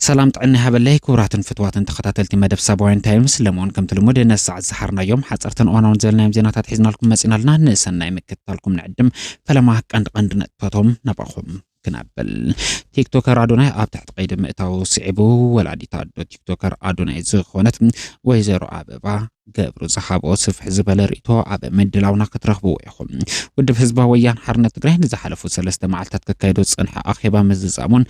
ሰላም ጥዕና ይሃበለይ ክቡራትን ፍትዋትን ተኸታተልቲ መደብ ሳባውያን ታይምስ ለመውን ከምቲ ልሙድ ነሳዕ ዝሰሓርናዮም ሓፀርትን እዋናውን ዘለናዮም ዜናታት ሒዝናልኩም መፂናልና ንሰናይ ምክትታልኩም ንዕድም ፈለማ ቀንዲ ቀንዲ ነጥብታቶም ናባኹም ክነብል ቲክቶከር ኣዶናይ ኣብ ትሕቲ ቀይዲ ምእታው ስዒቡ ወላዲት ኣዶ ቲክቶከር ኣዶናይ ዝኾነት ወይዘሮ ኣበባ ገብሩ ዝሃቦ ስፍሕ ዝበለ ርእቶ ኣብ ምድላውና ክትረኽብዎ ኢኹም። ውድብ ህዝባዊ ወያን ሓርነት ትግራይ ንዝሓለፉ ሰለስተ መዓልታት ከካየዶ ዝፀንሐ ኣኼባ ምዝዛሙን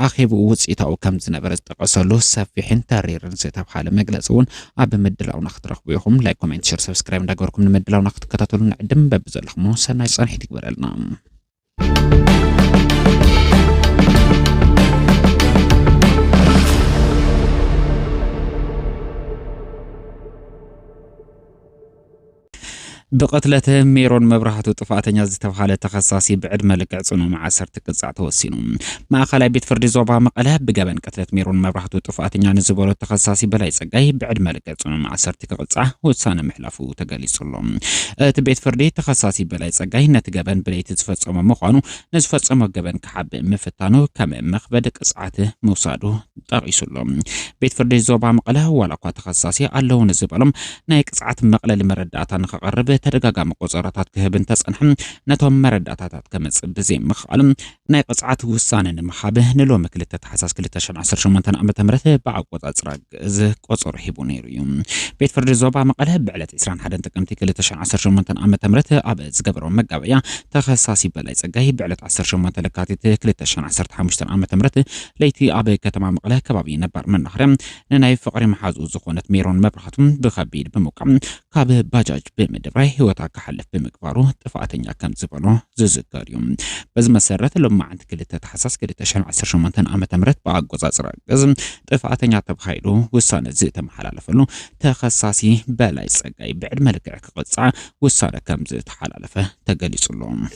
ኣኼቡ ውፅኢታዊ ከም ዝነበረ ዝጠቀሰሉ ሰፊሕን ተሪርን ዝተብሃለ መግለፂ እውን ኣብ ምድላውና ክትረኽቡ ኢኹም። ላይክ፣ ኮሜንት፣ ሸር፣ ሰብስክራይብ እንዳገበርኩም ንምድላውና ክትከታተሉ ንዕድም በብዘለኹሞ ሰናይ ፀንሒት ይግበረልና። ብቕትለተ ሜሮን መብራህቱ ጥፋተኛ ዝተብሃለ ተኸሳሲ ብዕድመ ልክዕ ጽኑ ማእሰርቲ ቅጻዕ ተወሲኑ። ማእኸላይ ቤት ፍርዲ ዞባ መቐለ ብገበን ቅትለት ሜሮን መብራህቱ ጥፋተኛ ንዝበሎ ተኸሳሲ በላይ ጸጋይ ብዕድመ ልክዕ ጽኑ ማእሰርቲ ዓመት ክቕጻዕ ውሳነ ምሕላፉ ተገሊጹ'ሎ። እቲ ቤት ፍርዲ፣ ተኸሳሲ በላይ ጸጋይ ነቲ ገበን ብለይቲ ዝፈጸሞ ምዃኑ፣ ንዝፈጸሞ ገበን ክሓብእ ምፍታኑ ከም መኽበድ ቅጽዓት ምውሳዱ ጠቒሱ'ሎ። ቤት ፍርዲ ዞባ መቐለ፣ ዋላኳ ተኸሳሲ ኣለዉኒ ዝበሎም ናይ ቅጽዓት መቕለሊ መረዳእታ ንኸቕርብ ተደጋጋሚ ቆጸሮታት ክህብ እንተጸንሐ፣ ነቶም መረዳእታታት ከምጽእ ብዘይምኽኣሉ ናይ ቅፅዓት ውሳነ ንምሃብ ንሎሚ ክልተ ታሕሳስ ክልተ ሽሕን ዓሰርተ ሸሞንተን ዓመተ ምህረት ብኣቆፃፅራ ግእዝ ቆፀሮ ሂቡ ነይሩ እዩ። ቤት ፍርዲ ዞባ መቐለ ብዕለት ዕስራን ሓደን ጥቅምቲ ክልተ ሽሕን ዓሰርተ ሸሞንተን ዓመተ ምህረት ኣብ ዝገበሮ መጋበእያ ተኸሳሲ በላይ ፀጋይ ብዕለት ዓሰርተ ሸሞንተ ለካቲት ክልተ ሽሕን ዓሰርተ ሓሙሽተን ዓመተ ምህረት ለይቲ ኣብ ከተማ መቐለ ከባቢ ነባር መናኸርያ ንናይ ፍቕሪ መሓዝኡ ዝኾነት ሜሮን መብራህቱ ብኸቢድ ብምውቃዕ ካብ ባጃጅ ብምድራይ ህይወታ ክሓልፍ ብምግባሩ ጥፍኣተኛ ከም ዝበሎ ዝዝከር እዩ። በዚ መሰረት ሎማዕንቲ ክልተ ታሕሳስ ክልተ ሽሕን ዓሰርተ ሸሞንተን ዓመተ ምህረት ብኣቆፃፅራ ግእዝ ጥፍኣተኛ ተባሂሉ ውሳነ ዝተመሓላለፈሉ ተኸሳሲ በላይ ፀጋይ ብዕድመ ልክዕ ክቕፃዕ ውሳነ ከም ዝተሓላለፈ ተገሊፁ ኣሎ።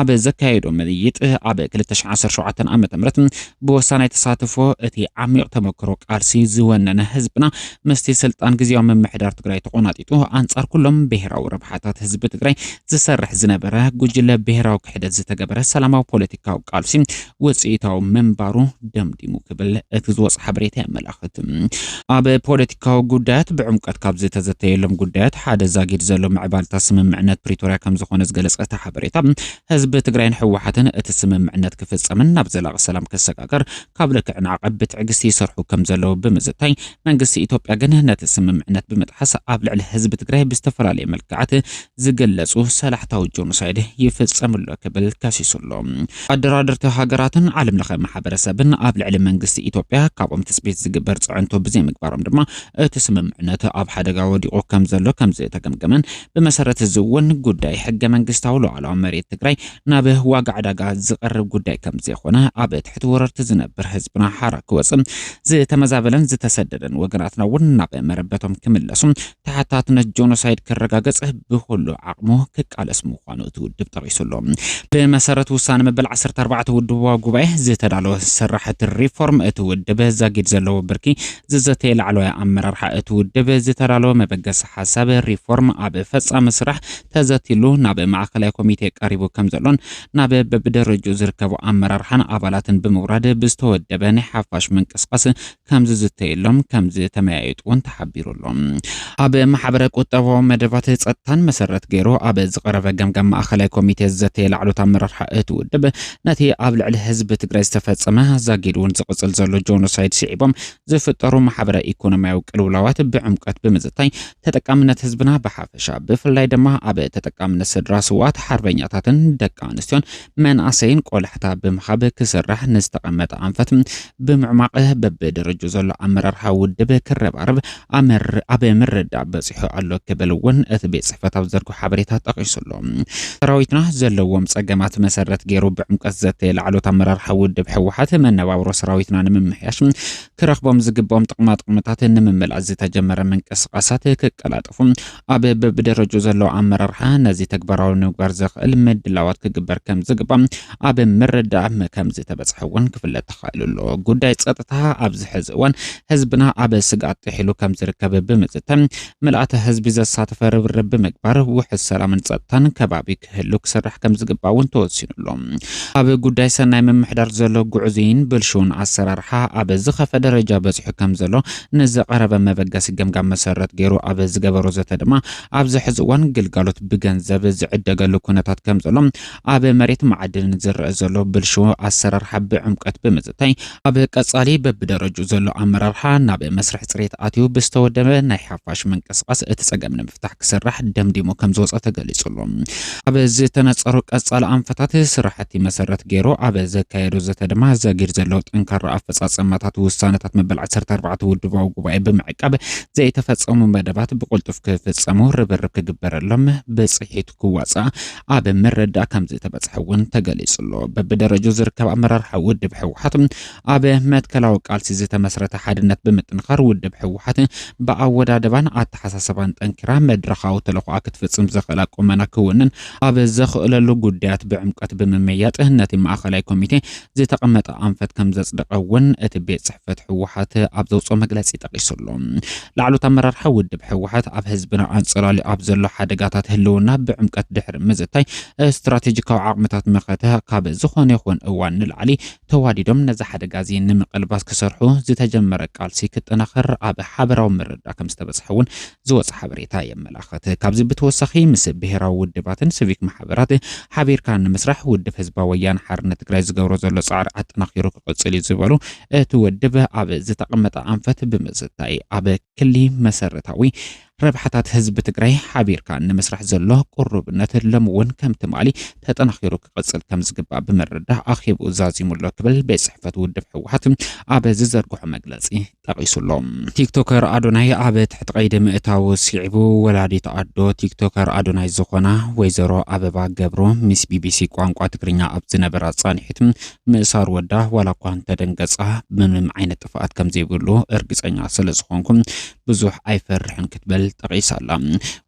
ኣብ ዘካየዶ ምይይጥ ኣብ 2017 ዓ ም ብወሳናይ ተሳትፎ እቲ ዓሚቕ ተመክሮ ቃልሲ ዝወነነ ህዝብና ምስቲ ስልጣን ግዜያዊ ምምሕዳር ትግራይ ተቖናጢጡ ኣንጻር ኩሎም ብሄራዊ ረብሓታት ህዝቢ ትግራይ ዝሰርሕ ዝነበረ ጉጅለ ብሄራዊ ክሕደት ዝተገበረ ሰላማዊ ፖለቲካዊ ቃልሲ ውፅኢታዊ ምንባሩ ደምዲሙ ክብል እቲ ዝወፅ ሓበሬታ የመላኽት። ኣብ ፖለቲካዊ ጉዳያት ብዕምቀት ካብ ዝተዘተየሎም ጉዳያት ሓደ ዛጊድ ዘሎ ምዕባልታ ስምምዕነት ፕሪቶርያ ከምዝኾነ ዝገለፀ እቲ ሓበሬታ ህዝቢ ትግራይን ህወሓትን እቲ ስምምዕነት ክፍፀምን ናብ ዘላቂ ሰላም ክሰጋገር ካብ ልክዕን ዓቐብ ብትዕግስቲ ይሰርሑ ከምዘለዉ ብምዝታይ መንግስቲ ኢትዮጵያ ግን ነቲ ስምምዕነት ብምጥሓስ ኣብ ልዕሊ ህዝቢ ትግራይ ብዝተፈላለየ መልክዓት ዝገለጹ ሰላሕታዊ ጆኖሳይድ ይፍጸም ኣሎ ክብል ከሲሱ ኣሎ። ኣደራደርቲ ሃገራትን ዓለም ለኸ ማሕበረሰብን ኣብ ልዕሊ መንግስቲ ኢትዮጵያ ካብኦም ትጽቢት ዝግበር ጽዕንቶ ብዘይምግባሮም ድማ እቲ ስምምዕነት ኣብ ሓደጋ ወዲቑ ከምዘሎ ከምዝተገምገመን ብመሰረት እዚ እውን ጉዳይ ሕገ መንግስታዊ ሉዓላዊ መሬት ትግራይ ናብ ዋጋ ዕዳጋ ዝቐርብ ጉዳይ ከምዘይኾነ ኣብ ትሕቲ ወረርቲ ዝነብር ህዝብና ሓራ ክወጽእ ዝተመዛበለን ዝተሰደደን ወገናትና እውን ናብ መረበቶም ክምለሱ ተሓታትነት ጆኖሳይድ ክረጋገፅ ብኹሉ ዓቕሙ ክቃለስ ምዃኑ እቲ ውድብ ጠቒሱ ኣሎ። ብመሰረት ውሳነ መበል ዓሰርተ ኣርባዕተ ውድባዊ ጉባኤ ዝተዳለወ ስራሕቲ ሪፎርም እቲ ውድብ ዛጊድ ዘለዎ ብርኪ ዝዘተየ ላዕለዋይ ኣመራርሓ እቲ ውድብ ዝተዳለወ መበገሲ ሓሳብ ሪፎርም ኣብ ፈፃሚ ስራሕ ተዘትይሉ ናብ ማእኸላይ ኮሚቴ ቀሪቡ ከምዘሎን ናብ በብደረጅኡ ዝርከቡ ኣመራርሓን ኣባላትን ብምውራድ ብዝተወደበ ናይ ሓፋሽ ምንቅስቓስ ከም ዝዝተየሎም ከም ዝተመያየጡ እውን ተሓቢሩ ኣሎ። ኣብ ማሕበረ ቁጠባዊ መደባት ጸጥታን መሰረት ገይሩ ኣብ ዝቐረበ ገምጋም ማእኸላይ ኮሚቴ ዝዘተየ ላዕሎት ኣመራርሓ እቲ ውድብ ነቲ ኣብ ልዕሊ ህዝቢ ትግራይ ዝተፈጸመ ዛጊድ እውን ዝቕጽል ዘሎ ጆኖሳይድ ስዒቦም ዝፍጠሩ ማሕበረ ኢኮኖሚያዊ ቅልውላዋት ብዕምቀት ብምዝታይ ተጠቃምነት ህዝብና ብሓፈሻ ብፍላይ ድማ ኣብ ተጠቃምነት ስድራ ስውኣት ሓርበኛታትን ደቂ ኣንስትዮን መንኣሰይን ቆላሕታ ብምሃብ ክስራሕ ንዝተቐመጠ ኣንፈት ብምዕማቕ በብደረጁ ዘሎ ኣመራርሓ ውድብ ክረባረብ ኣብ ምርዳእ በፂሑ ኣሎ ክብል እውን እቲ ቤት ፅሕፈት ኣብ ዘርጎ ሓበሬታ ጠቒሱ ኣሎ። ሰራዊትና ዘለዎም ፀገማት መሰረት ገይሩ ብዕምቀት ዘተየ ላዕሎት ኣመራርሓ ውድብ ህወሓት መነባብሮ ሰራዊትና ንምምሕያሽ ክረኽቦም ዝግብኦም ጥቕማጥቕምታት ንምምላእ ዝተጀመረ ምንቅስቓሳት ክቀላጠፉ ኣብ በብደረጁ ዘሎ ኣመራርሓ ነዚ ተግባራዊ ንምግባር ዘኽእል ምድላዋት ክግበር ከምዝግባእ ኣብ ምርዳእ ከምዝተበፅሐ እውን ክፍለጥ ተኻኢሉ ኣሎ። ጉዳይ ፀጥታ ኣብዚ ሕዚ እዋን ህዝብና ኣብ ስግኣት ጥሒሉ ከምዝርከብ ብምዝተ ምልኣተ ህዝቢ ዘሳተፈ ርብርብ ብምግባር ውሑስ ሰላምን ፀጥታን ከባቢ ክህሉ ክስራሕ ከምዝግባእ እውን ተወሲኑሎ። ኣብ ጉዳይ ሰናይ ምምሕዳር ዘሎ ጉዕዙይን ብልሽውን ኣሰራርሓ ኣብ ዝኸፈ ደረጃ በፂሑ ከምዘሎ ንዝቐረበ መበገሲ ገምጋም መሰረት ገይሩ ኣብ ዝገበሮ ዘተ ድማ ኣብዚ ሕዚ እዋን ግልጋሎት ብገንዘብ ዝዕደገሉ ኩነታት ከምዘሎ ኣብ መሬት መዓድን ዝረአ ዘሎ ብልሽው ኣሰራርሓ ብዕምቀት ብምዝታይ ኣብ ቀፃሊ በብደረጅኡ ዘሎ ኣመራርሓ ናብ መስርሕ ፅሬት ኣትዩ ብዝተወደበ ናይ ሓፋሽ ምንቅስቓስ እቲ ፀገም ንምፍታሕ ክስራሕ ደምዲሙ ከምዝወፀ ተገሊፁሉ። ኣብ ዝተነፀሩ ቀፃሊ ኣንፈታት ስራሕቲ መሰረት ገይሩ ኣብ ዘካየዶ ዘተ ድማ ዘጊድ ዘሎ ጠንካራ ኣፈፃፀማታት ውሳነታት መበል ዓሰርተ ኣርባዕተ ውድባዊ ጉባኤ ብምዕቃብ ዘይተፈፀሙ መደባት ብቕልጡፍ ክፍፀሙ ርብርብ ክግበረሎም ብፅሒቱ ክዋፃእ ኣብ ምርዳእ ከምዝተበፅሐ እውን ተገሊፁ ኣሎ። በብደረጃኡ ዝርከብ ኣመራርሓ ውድብ ህወሓት ኣብ መትከላዊ ቃልሲ ዝተመስረተ ሓድነት ብምጥንኻር ውድብ ህወሓት ብኣወዳድባን ኣተሓሳሰባን ጠንኪራ መድረኻዊ ተልዕኾኣ ክትፍፅም ዘኽእላ ቁመና ክውንን ኣብ ዘኽእለሉ ጉዳያት ብዕምቀት ብምምያጥ ነቲ ማእኸላይ ኮሚቴ ዝተቐመጠ ኣንፈት ከም ዘጽደቐ እውን እቲ ቤት ጽሕፈት ህወሓት ኣብ ዘውፅኦ መግለፂ ጠቒሱ ኣሎ። ላዕሎት ኣመራርሓ ውድብ ህወሓት ኣብ ህዝብና ኣንጸላልዩ ኣብ ዘሎ ሓደጋታት ህልውና ብዕምቀት ድሕሪ ምዝታይ ስትራቴጂካዊ ዓቕምታት መኸተ ካብ ዝኾነ ይኹን እዋን ንላዕሊ ተዋዲዶም ነዚ ሓደጋ እዚ ንምቕልባስ ክሰርሑ ዝተጀመረ ቃልሲ ክጠናኸር ኣብ ሓበራዊ ምርዳ ከም ዝተበጽሐ እውን ዝወጸ ሓበሬታ የመላኽት። ካብዚ ብተወሳኺ ምስ ብሄራዊ ውድባትን ስቪክ ማሕበራት ሓቢርካ ንምስራሕ ውድብ ህዝባዊ ወያነ ሓርነት ትግራይ ዝገብሮ ዘሎ ጻዕሪ ኣጠናኺሩ ክቕጽል እዩ ዝበሉ እቲ ውድብ ኣብ ዝተቐመጠ ኣንፈት ብምዝታይ ኣብ ክሊ መሰረታዊ ረብሓታት ህዝቢ ትግራይ ሓቢርካ ንምስራሕ ዘሎ ቅሩብነት ሎም እውን ከም ትማሊ ተጠናኺሩ ክቕጽል ከም ዝግባእ ብምርዳእ ኣኼብኡ ዛዚሙ ኣሎ ክብል ቤት ጽሕፈት ውድብ ህወሓት ኣብ ዝዘርግሖ መግለጺ ጠቒሱ ኣሎ። ቲክቶከር ኣዶናይ ኣብ ትሕቲ ቀይዲ ምእታዉ ስዒቡ፣ ወላዲት ኣዶ ቲክቶከር ኣዶናይ ዝኾና ወይዘሮ ኣበባ ገብሩ ምስ ቢቢሲ ቋንቋ ትግርኛ ኣብ ዝነበራ ጻንሒት፣ ምእሳር ወዳ ዋላ እኳ እንተደንገጻ ምንም ዓይነት ጥፍኣት ከምዘይብሉ እርግጸኛ ስለዝኾንኩ ብዙሕ ኣይፈርሕን ክትብል ጠቒሳ ኣላ።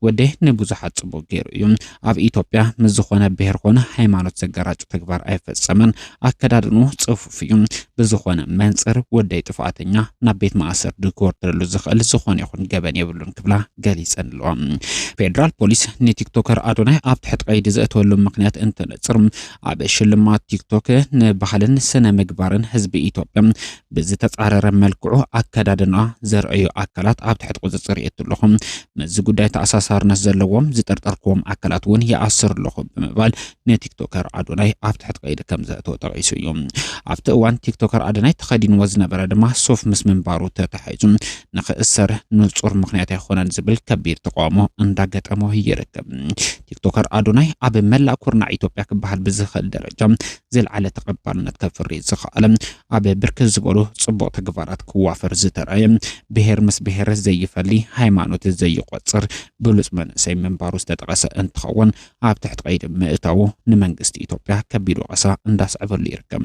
ወደይ ንብዙሓት ጽቡቕ ገይሩ እዩ። ኣብ ኢትዮጵያ ምስ ዝኾነ ብሄር ኮነ ሃይማኖት ዘጋራጭ ተግባር ኣይፈጸመን። ኣከዳድንኡ ጽፉፍ እዩ። ብዝኾነ መንጽር ወደይ ጥፍኣተኛ ናብ ቤት ማእሰርቲ ክወርደሉ ዝኽእል ዝኾነ ይኹን ገበን የብሉን ክብላ ገሊጸንለዋ። ፌደራል ፖሊስ ንቲክቶከር ኣዶናይ ኣብ ትሕቲ ቀይዲ ዘእተወሉ ምክንያት እንትነጽር ኣብ ሽልማት ቲክቶክ ንባህልን ስነ ምግባርን ህዝቢ ኢትዮጵያ ብዝተጻረረ መልክዑ ኣከዳድና ዘርእዩ ኣካላት ኣብ ትሕቲ ቁጽጽር የእቱ ኣለኹ፣ ምስዚ ጉዳይ ተኣሳሳርነት ዘለዎም ዝጠርጠርክዎም ኣካላት እውን ይኣስር ኣለኹ ብምባል ንቲክቶከር ኣዶናይ ኣብ ትሕቲ ቀይዲ ከም ዘእተወ ጠቒሱ እዩ። ኣብቲ እዋን ቲክቶከር ኣዶናይ ተኸዲንዎ ዝነበረ ድማ ሱፍ ምስ ምንባሩ ተታሒዙ ንኽእሰር ንጹር ምክንያት ኣይኮነን ዝብል ከቢድ ተቃውሞ እንዳገጠሞ ይርከብ። ቲክቶከር ኣዶናይ ኣብ መላእ ኩርናዕ ኢትዮጵያ ክበሃል ብዝኽእል ደረጃ ዝለዓለ ተቐባልነት ከፍሪ ዝኸኣለ ኣብ ብርክት ዝበሉ ጽቡቕ ተግባራት ክዋፈር ዝተራእየ፣ ብሄር ምስ ብሄር ዘይፈሊ፣ ሃይማኖት ዘይቖጽር ብሉጽ መንእሰይ ምንባሩ ዝተጠቐሰ እንትኸውን፣ ኣብ ትሕቲ ቀይዲ ምእታዉ ንመንግስቲ ኢትዮጵያ ከቢድ ወቐሳ እንዳስዐበሉ ይርከብ።